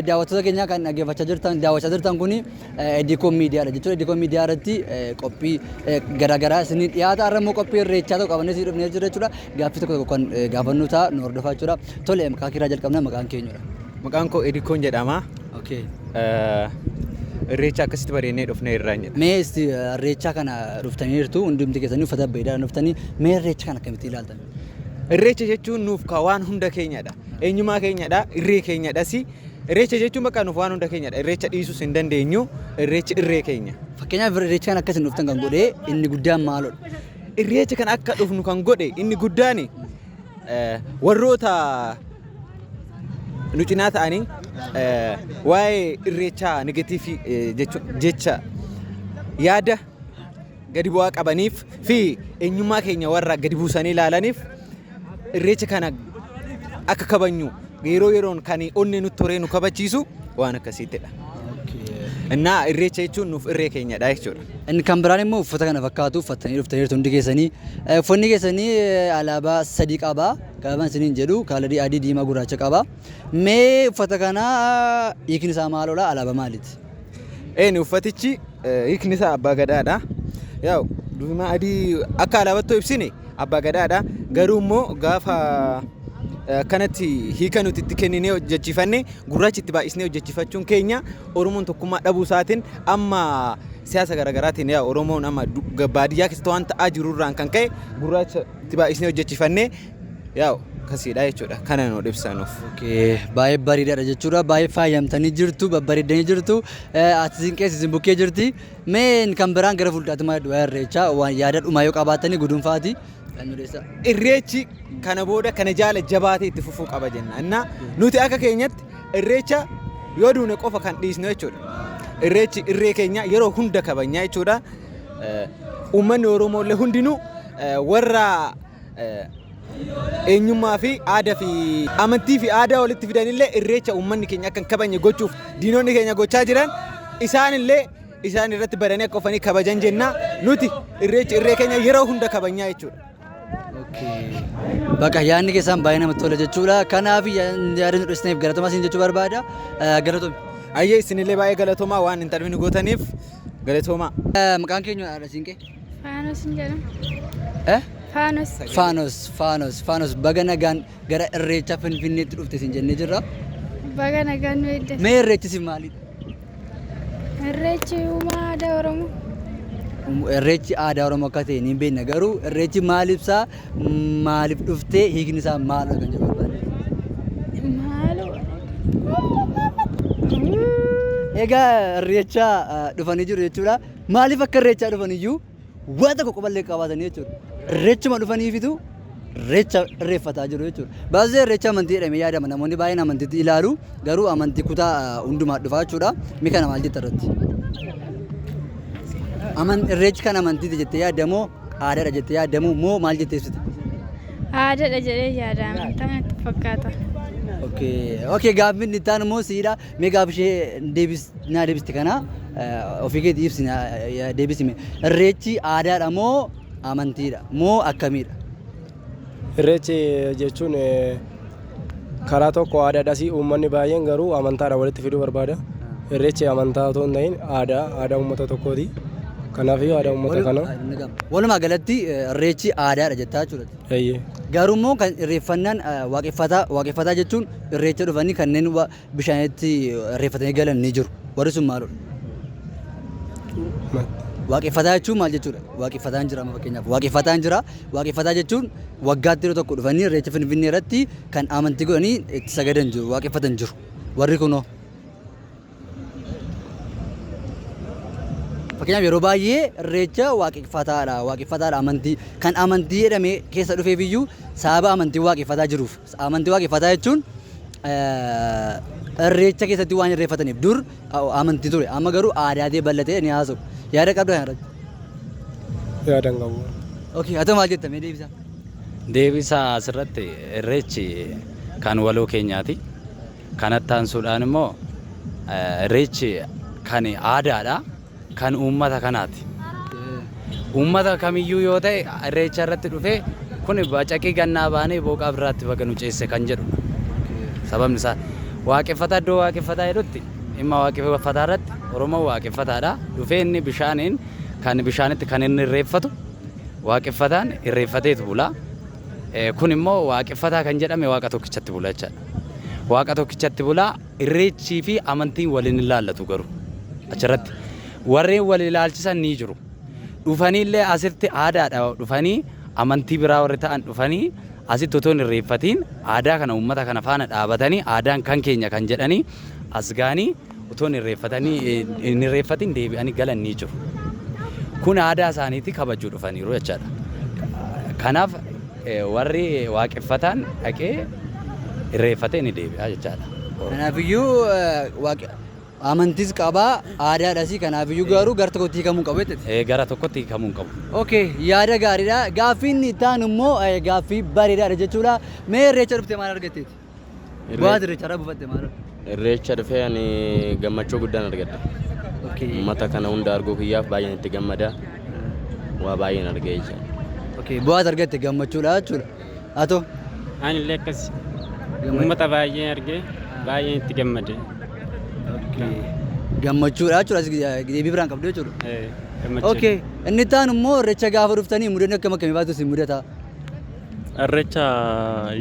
daawwattoota keenya kan dhaggeeffachaa jirtan daawwachaa jirtan kun Edikoon Miidiyaadha jechuudha. Edikoon Miidiyaa irratti qophii garaagaraa isiniif dhiyaata. Har'a immoo qophii irreechaa tokko qabannee isin dhufnee jirra jechuudha. Gaaffii tokko tokko kan gaafannu ta'a nu hordofaa jechuudha. Tole maqaa kiiraa jalqabna maqaan keenyudha. Maqaan koo Edikoon jedhama. Okay. Eh, Irreecha akkasitti bareennee dhufnee irraan jedha. Mee isti irreechaa kana dhuftaniirtu hundumti keessanii uffata bareedaadhaan dhuftanii mee irreecha kana akkamitti ilaaltan? Irreecha jechuun nuuf ka waan hunda keenyadha. Eenyumaa keenyadha, irree keenyadhas. Irreecha jechuun bakka nuuf waan hunda keenyadha. Irreecha dhiisuus hin dandeenyu. Irreechi irree keenya. Fakkeenyaaf irreecha kana akkasiin dhuftan kan godhee inni guddaan maalodha? Irreecha kana akka dhufnu kan godhe inni guddaan warroota nu cinaa ta'anii waa'ee irreechaa negatiivii jecha yaada gadi bu'aa qabaniif fi eenyummaa keenya warra gadi buusanii ilaalaniif irreecha kana akka kabajnu yeroo yeroon kan onnee nutti horee nu kabachiisu waan akkasiittidha. Innaa irreecha jechuun nuuf irree keenyadha jechuudha. Inni kan biraan immoo uffata kana fakkaatu uffattanii dhuftaniirtu hundi keessanii. Eh, Uffanni keessanii eh, alaabaa sadii qaba. Gaafan isiniin jedhu kaalarii adii, diimaa, gurraacha qaba. Mee uffata kana ah, hiikni isaa maaloodha? Alaabaa maaliiti? Eeni uffatichi eh, hiikni isaa abbaa gadaadha. Yaa diimaa adii akka alaabattoo ibsine abbaa gadaadha. Garuu immoo gaafa eh, akkanatti hiika nuti itti kenninee hojjechiifanne gurraacha itti baay'isnee hojjechiifachuun keenya Oromoon tokkummaa dhabuu isaatiin amma siyaasa garaagaraatiin yaa Oromoon amma baadiyyaa keessatti waan ta'aa jiru irraan kan ka'e gurraacha itti baay'isnee hojjechifannee yaa kasiidha jechuudha kana nu dhibsanuuf. Baay'ee bareedaadha jechuudha. Baay'ee faayamtanii jirtu, babbareeddanii jirtu. Ati isin keessa isin bukkee jirti. Mee kan biraan gara fuulduraatti maal jedhu waa'ee irreechaa waan yaada dhumaa yoo qabaatanii gudunfaati. Irreechi kana booda kana jaala jabaatee itti fufuu qaba jenna. Innaa nuti akka keenyatti irreecha yoo duune qofa kan dhiisnu jechuudha. Irreechi irree keenya yeroo hunda kabajnaa jechuudha. Uummanni Oromoo illee hundinuu warra eenyummaa fi aadaa fi amantii fi aadaa walitti fidan illee irreecha uummanni keenya akka hin kabajne gochuuf diinonni keenya gochaa jiran isaan illee isaan irratti badanii akka ofanii kabajan jenna nuti irreechi irree keenya yeroo hunda kabajnaa jechuudha. Bakka yaadni keessaan baay'ee namatti tola jechuudha. Kanaaf yaada nu dhiyeessaniif galatoomaa isin jechuu barbaada. Galatoomi. Ayyee isinillee baay'ee galatoomaa waan hin tarbiin gootaniif galatoomaa. Maqaan keenya haadha siinqee? Faanos hin jedhamu. Faanos. Faanos, Faanos, Faanos baga nagaan gara irreecha Finfinneetti dhufte isin jennee jirra. Baga nagaan nu eeddatu. Mee irreechi isin maalidha? Irreechi uumaa aadaa Oromoo. Irreechi aadaa Oromoo akka ta'e ni beekna garuu irreechi maal ibsaa maaliif dhuftee hiikni isaa maal kan jedhu barbaade. Maaloo. Egaa irreecha dhufanii jiru jechuudha. Maaliif akka irreechaa dhufaniyyuu Waa tokko quballee qabaatanii jechuudha. Irreechuma dhufaniifitu irreecha irreeffataa jiru jechuudha. Baasisee irreecha amantii jedhamee yaadama. Namoonni baay'een amantiitti ilaalu garuu amantii kutaa hundumaa dhufaa jechuudha. Mi kana maal jetta irratti? Aman irreechi kan amantiiti jettee yaadamoo aadaadha jettee yaadamoo moo maal jettee ibsita? Aadaadha jedhee yaada amantaa natti fakkaata. Okay, okay gaaffiin itti aanu immoo siidha. Mee gaafa ishee deebis naa deebiste kana ofii keetii ibsi naa deebisime. Irreechi aadaadha moo amantiidha moo akkamiidha? Irreechi jechuun karaa tokko aadaadhas uummanni baay'een garuu amantaadhaan walitti fiduu barbaada. Irreechi amantaa otoo hin ta'in aadaa aadaa uummata tokkooti. Kanaafuu aadaa uummata kanaa. Walumaa galatti irreechi aadaadha jettaa jechuudha. Eeyyee. Garuu immoo kan irreeffannaan waaqeffataa waaqeffataa jechuun irreecha dhufanii kanneen bishaanitti irreeffatanii galan ni jiru. Warri sun maaludha? Waaqeffataa jechuun maal jechuudha? Waaqeffataan jira amma fakkeenyaaf waaqeffataan jira. Waaqeffataa jechuun waggaatti yeroo tokko dhufanii irreecha Finfinnee irratti kan amantii godhanii itti sagadan jiru waaqeffatan jiru. Warri kunoo? Fakkeenyaaf yeroo baay'ee irreecha waaqeffataadha waaqeffataadha amantii kan amantii jedhamee keessa dhufeef iyyuu sababa amantii waaqeffataa jiruuf amantii waaqeffataa jechuun irreecha keessatti waan irreeffataniif dur amantii ture amma garuu aadaa ta'e bal'atee ni haasa'u yaada qabda kana irratti. Yaadan qabu. Okee haa ta'u maal jetta mee deebisaa. Deebisaa asirratti irreechi kan waloo keenyaati. Kanatti aansuudhaan immoo Irreechi kan aadaadha. Kan uummata kanaati. Uummata kamiyyuu yoo ta'e Irreecha irratti dhufee kun bacaqii gannaa baanee booqaa birraatti baga nu ceesse kan jedhudha. Sababni isaa waaqeffataa iddoo waaqeffataa jedhutti dhimma waaqeffataa irratti Oromoon waaqeffataadha. Dhufee inni bishaaniin kan bishaanitti kan inni irreeffatu waaqeffataan irreeffateetu bula. Kun immoo waaqeffataa kan jedhame waaqa tokkichatti bula jechaadha. Waaqa tokkichatti bulaa irreechii fi amantiin waliin hin laallatu garuu achirratti warreen wal ilaalchisan ni jiru. Dhufanii illee asitti aadaadha dhufanii amantii biraa warri ta'an dhufanii asitti otoo hin irreeffatiin aadaa kana uummata kana faana dhaabatanii aadaan kan keenya kan jedhanii as ga'anii Utuu hin irreeffatin deebi'anii galan ni jiru. Kun aadaa isaaniitii kabajuu dhufaniiru jechaadha. Kanaaf warri waaqeffataan dhaqee irreeffatee ni deebi'a jechaadha. Kanaafiyyuu amantiis qabaa aadaadhasii kanaafiyyuu garuu gara tokkotti hiikamuu hin qabu jechuudha. Gara tokkotti hiikamuu hin qabu. Okay, yaada gaariidha. Gaaffii inni itti aanu immoo gaaffii bareedaadha jechuudha. Mee irreecha dhufte maal argatteeti? Bu'aa irreecharraa buufatte maal? Irreecha dhufee ani gammachuu guddaan argadha. Okay. Uummata kana hunda arguu kiyyaaf baay'een itti gammada. Waa baay'een argee jira. Okay. Bu'aa as argatte gammachuudha jechuudha. Atoo Ani illee akkas uummata baay'ee argee baay'een itti gammade. gammachuudha jechuudha. As deebii biraan qabdu jechuudha. Eh, gammachuu. Okay. Inni itti aanu immoo irreecha gaafa dhuftanii mudannoo akkam akkamii baatu isin mudata? Irreecha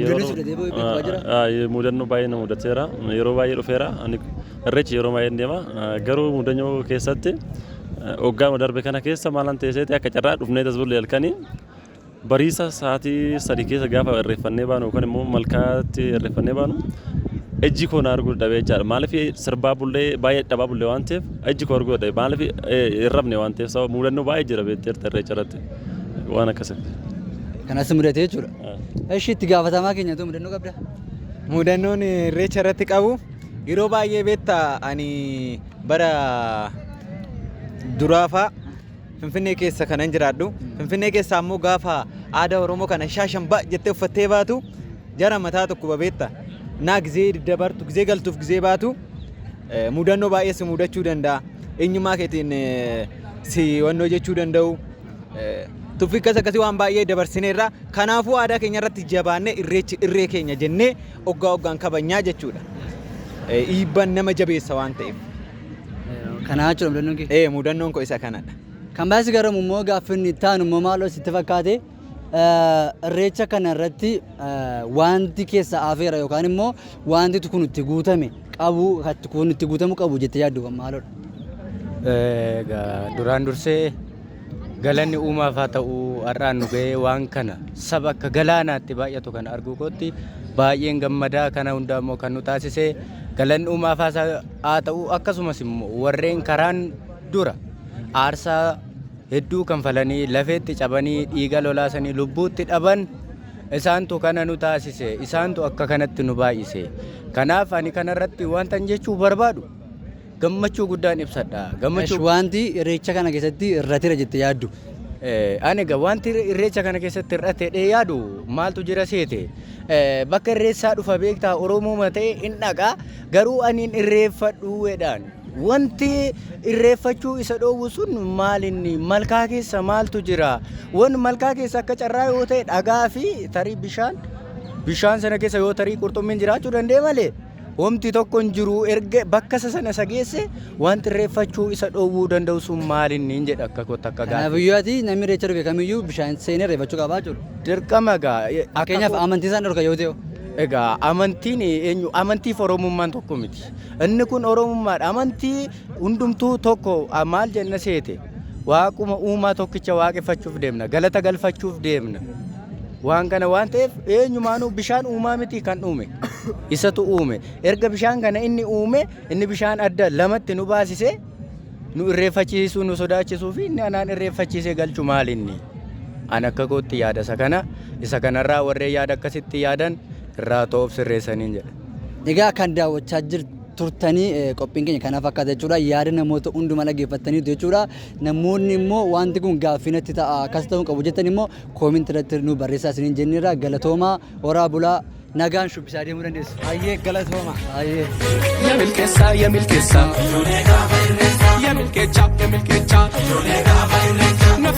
yeroo mudannoo baay'ee na mudateera. Yeroo baay'ee dhufeera. Irreecha yeroo baay'een deema. Garuu mudannoo keessatti waggaama darbe kana keessa maalan ta'eseeti akka carraa dhufnee tasbullee halkanii bariisa sa'aatii sadii keessa gaafa irreeffannee baanu yookaan immoo malkaatti irreeffannee baanu ijji koo na arguu dadhabee jechaadha. Maaliif sirbaa bullee baay'ee dadhabaa bullee waan ta'eef ijji koo arguu dadhabe. Maaliif hin rafne waan ta'eef sababa mudannoo baay'ee jira beekteerta irreecha irratti. Waan akkasitti. Kanas mudate jechuudha. Eshi itti gaafatamaa keenya too mudannoo qabda. Mudannoon irreecha irratti qabu yeroo baay'ee beekta ani bara duraafaa Finfinnee keessa kanan jiraadhu. Finfinnee keessaa immoo gaafa aadaa Oromoo kana shaashan ba jettee uffattee baatu jara mataa tokko babeetta. Naa gizee dabartu, gizee galtuuf gizee baatu mudannoo baay'ee si mudachuu danda'a. Eenyummaa keetiin si wannoo jechuu danda'u. Tuffii akkas akkasii waan baay'ee dabarsineerra. Kanaafuu aadaa keenya irratti jabaannee irreechi irree keenya jennee oggaa oggaan kabajnaa jechuudha. Dhiibbaan nama jabeessa waan ta'eef. Kanaa jechuudha mudannoon kee. Ee mudannoon koo isa kanadha. Kan baay'ee si garamu immoo gaaffiin itti aanu immoo maaloo sitti fakkaate? Irreecha kana irratti wanti keessa hafeera yookaan immoo wanti kun itti guutame qabu kun itti guutamu qabu jettee yaaddu kan maalodha? Duraan dursee galanni uumaaf haa ta'u har'aan nu ga'ee waan kana saba akka galaanaatti baay'atu kan arguu kootti baay'een gammadaa kana hundaa immoo kan nu taasise galanni uumaaf haa ta'u akkasumas immoo warreen karaan dura aarsaa hedduu kanfalanii, lafeetti cabanii, dhiiga lolaasanii lubbuutti dhaban, isaantu kana nu taasise, isaantu akka kanatti nu baay'ise. Kanaaf ani kanarratti wantan jechuu barbaadu gammachuu guddaan ibsadha. Esh Gammachuu wanti irreecha kana keessatti irratira jette yaaddu. Eh, ani egaa wanti irre- irreecha kana keessatti hir'ate jedhee yaadu maaltu jira seete Eh, bakka irreessaa dhufa beektaa oromooma ta'e hin dhaqa garuu ani hin irreeffadhu jedhaan Wanti irreeffachuu isa dhoowwu sun maalinni? Malkaa keessa maaltu jira? Wan malkaa keessa akka carraa yoo ta'e dhagaa fi tarii bishaan bishaan sana keessa yoo tarii qurxummiin jiraachuu danda'e malee homti tokko hin jiru erga bakka isa sana isa geesse wanti irreeffachuu isa dhoowwuu danda'u sun maalinni hin jedha akka kootti akka Kanaaf gaaffii. iyyuu ati namni irreecha dhufe kamiyyuu bishaan seenee irreeffachuu qabaa jiru. Dirqama egaa akka Fakkeenyaaf koo- amantii isaan dhorka yoo ta'e. Egaa amantiin eenyu amantii fi oromummaan tokko miti. Inni kun Oromummaadha. Amantii hundumtuu tokko ah, maal jenna seete? Waaquma uumaa tokkicha waaqeffachuuf deemna. Galata galfachuuf deemna. Waan kana waan ta'eef eenyumaanuu bishaan uumaa miti kan uume. Isatu uume. Erga bishaan kana inni uume inni bishaan adda lamatti nu baasise nu irreeffachiisuu nu sodaachisuu fi inni anaan irreeffachiisee galchu maal inni? An akka kootti yaada isa kana isa kanarraa warreen yaada akkasitti yaadan irraa ta'uuf sirreessaniin jedha. Egaa kan daawwachaa jirtu turtanii qophiin keenya kana fakkaata jechuudha. Yaada namoota hundumaa dhaggeeffattaniitu jechuudha. Namoonni immoo wanti kun gaaffii natti ta'a akkas ta'uu qabu jettan immoo koominti irratti nu barreessaa isiniin jenneerra galatoomaa horaa bulaa nagaan shubbisaa deemuu dandeessu. Hayyee galatooma. Hayyee. Ya milkesa, ya milkesa. Ya milkecha, ya milkecha.